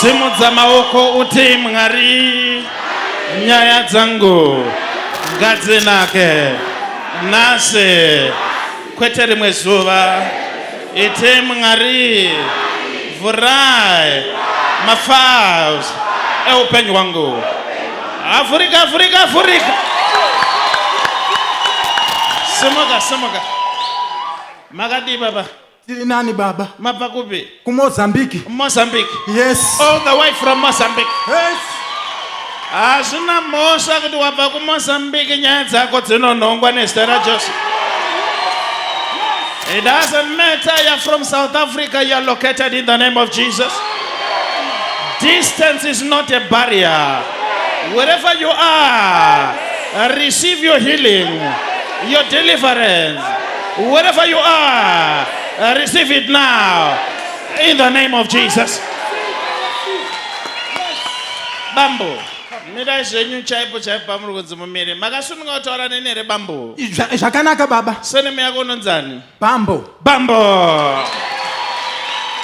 simudza maoko uti mwari nyaya dzangu ngadzinake nhasi kwete rimwe zuva Ite Mwari, vhurai mafiles eupenyu hwangu. Avhurika, avhurika, avhurika. Simuka, simuka. Makadii baba? Tiri nani baba? Mabva kupi? KuMozambique. Mozambique. Yes. All the way from Mozambique. Yes. Hazvina mhosva kuti wabva kuMozambique nyaya dzako dzinonhongwa nezita raJesu. It doesn't matter you're from South Africa, you're located in the name of Jesus. Distance is not a barrier. Wherever you are, receive your healing, your deliverance. Wherever you are, receive it now in the name of Jesus. Bambo, mirai zvenyu chaipo chaipo pamuri kunzi mumire. Makasununga kutaura neni here bambo? Zva- zvakanaka baba Surname yako unonzani? bambo Bambo.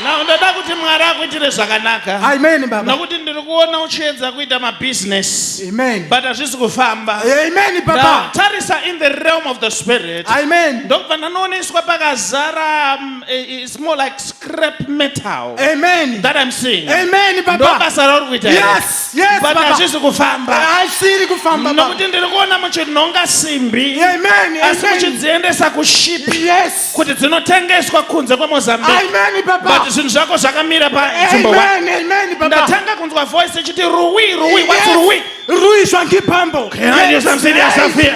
Now ndoda kuti Mwari akuitire zvakanaka. amen baba Nokuti ndiri kuona uchiedza kuita mabusiness amen but hazvisi kufamba. amen Now, baba tarisa in the realm of the spirit. amen ndokubva ndanoneswa pakazara um, i- i- it's more like crap metal Amen. that I'm seeing. Amen, Baba. Ndobasa rauri kuita here? Yes, yes, But Baba. hazvisi kufamba. Haisiri kufamba Baba. Nokuti ndiri kuona muchinhonga simbi Amen. asi Amen. muchidziendesa kuship Yes. kuti dzinotengeswa kunze kwemozambique Amen, but Baba. zvinhu zvako zvakamira panzvimbo one. Amen. Amen, Baba. ndatanga kunzwa voice ichiti ruwi ruwi wati Yes. ruwi Rui Shwangi Pambo. Can I do something else up here?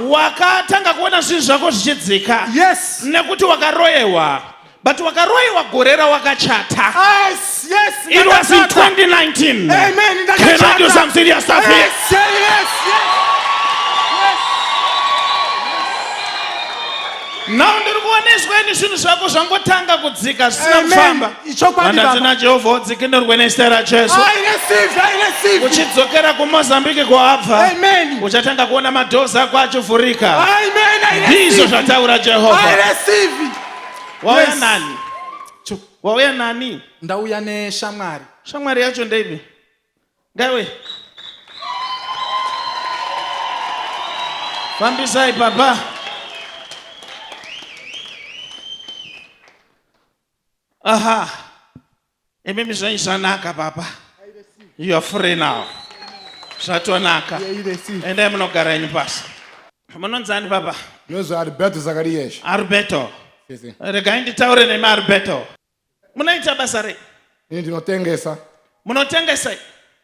wakatanga kuona zvinhu zvako zvichidzika yes nekuti wakaroyewa but wakaroyewa gore rawakachata yes yes it was in 2019 amen can i do some serious stuff here yes, yes, yes. now ndiri kuona izweni zvinhu zvako zvangotanga kudzika zvisina kufamba ichokwadi Handa dzina Jehovha udzikinurwe nezita raJesu. I receive, I receive. Uchidzokera kuMozambique kwaabva. Amen. Uchatanga kuona madoors ako achivhurika. Amen, I receive. Ndizvo zvataura Jehovha. I receive. Wauya yes. nani? Wauya nani? Ndauya neshamwari. Shamwari yacho ndeipi? Ngaiwe. Fambisai baba. Aha. Imimi zvenyu zvanaka papa. You are free now. Zvatonaka. Endai munogara yenyu pasi. Munonzi ani papa? Ndinonzi Alberto Zakariyesh. Alberto. Regai nditaure nemi Alberto. Munoita basa rei? Ini ndinotengesa. Munotengesa?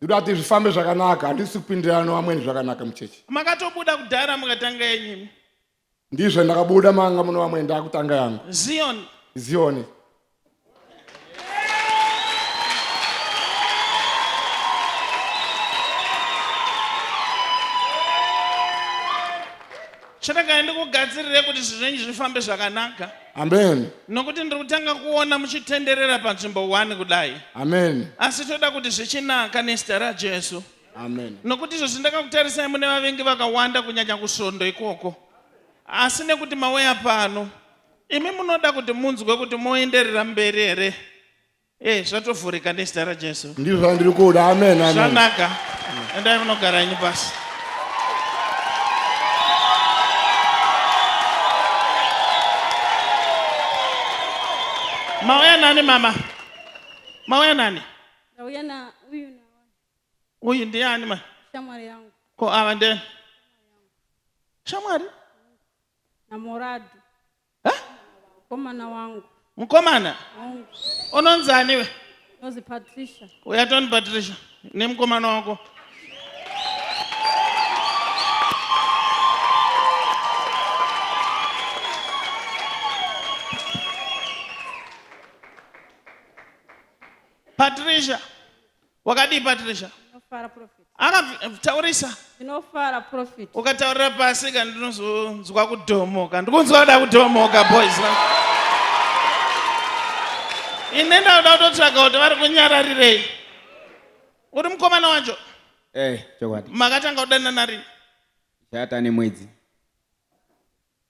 ndoda kuti zvifambe zvakanaka handisi kupindirana nevamweni zvakanaka muchechi makatobuda kudhara mukatanga yenyimi ndizvo ndakabuda manga muno vamwe ndakutanga yangu zion zioni chandakaya ndikugadzirire kuti zvinhu zvenyu zvifambe zvakanaka Amen. Nokuti ndiri kutanga kuona muchitenderera panzvimbo 1 kudai. Amen. Asi toda kuti zvichinaka nezita raJesu. Amen. Nokuti izvozvi ndakakutarisai mune vavengi vakawanda kunyanya kusvondo ikoko. Asi nekuti mauya pano, imi munoda kuti munzwe kuti moenderera mberi here? Eh, zvatovhurika nezita raJesu. Ndizvo zvandiri kuda. Amen, amen. Zvanaka. Endai munogara henyu pasi. Mauya nani mama? Mauya nani? Ndauya na uyu na Uyu ndiani ma? shamwari yangu Ko ava nde? Shamwari? na Morado. Huh? Mukomana wangu. Mukomana? Wangu. Unonzi aniwe? Unonzi Patricia. Uya toni Patricia nemukomana wako. Patricia. wakadii patricia Ndinofara prophet. akataurisa Ndinofara prophet. ukataurira pasi ka ndinozonzwa kudhomoka ndikunzwa kuda kudhomoka boys na ine ndauda kutotsvaga kuti vari kunyararirei uri mukomana wacho Eh, chokwadi. makatanga kudanana rini Chata nemwedzi.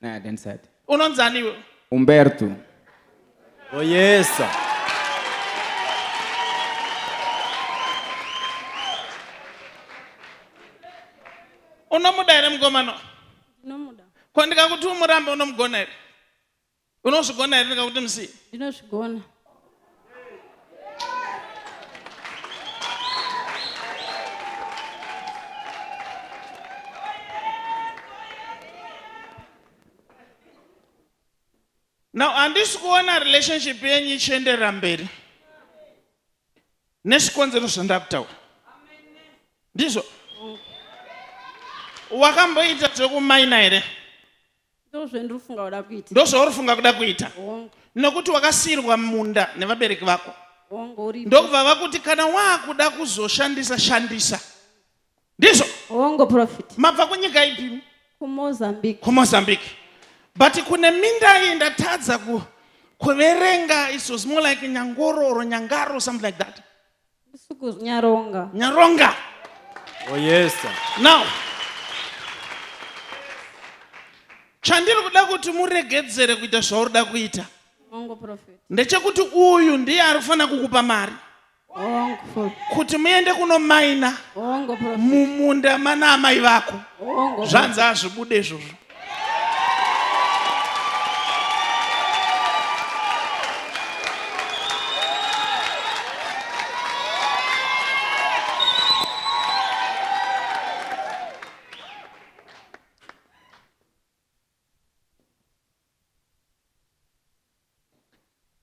Naya Densad. Unonzani iwe? Umberto. Oh yes. Sir. Unomuda here mukomana? Ndinomuda. Ko ndikakuti umurambe unomugona here? Unozvigona here ndikakuti musiye? Ndinozvigona. now handisi kuona relationship yenyu ichiendera mberi nezvikonzero zvandakutaura ndizvo wakamboita zvekumaina here ndozvauri funga kuda kuita nokuti wakasiyirwa munda nevabereki vako ndokubva vakuti kana waakuda kuzoshandisa shandisa ndizvo mabva kunyika ipi kumozambique but kune minda iyi ndatadza kuverenga it was more like nyangoro or nyangaro something like that Suku Nyaronga. Nyaronga. Oh yes sir. Now. Chandiri kuda kuti muregedzere kuita zvauri da kuita. Hongo prophet. Ndechekuti uyu ndiye ari kufanira kukupa mari. Hongo. Kuti muende kuno maina. Hongo prophet. Mumunda mana amai vako. Hongo. Zvanzi azvibude izvozvo.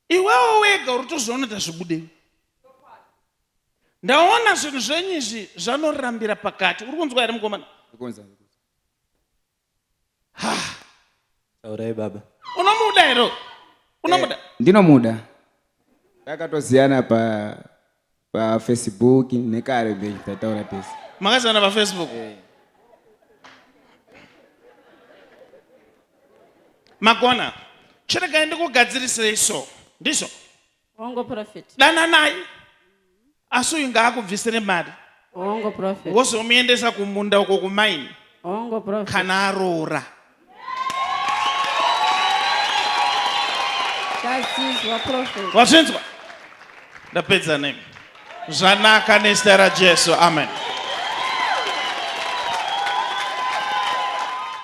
iwewo wega uri tozviona tazvibudei ndaona zvinhu zvenyu izvi zvanorambira pakati uri kunzwa here mukomana taurai baba unomuda here uyu? unomuda Eh, ndinomuda takatoziyana pa pafacebook nekare be tataura tese makazivana pafacebook magona chiregai ndikugadzirisei so ndizvo Hongo prophet. Dananai. Asi uyu ngaakubvisire mari. Hongo prophet. Wozomuendesa kumunda uko kumaini. Hongo prophet. Kana aroora. Tazizwa prophet. Wazvinzwa? Ndapedza nemi. Zvanaka nezita raJesu. Amen.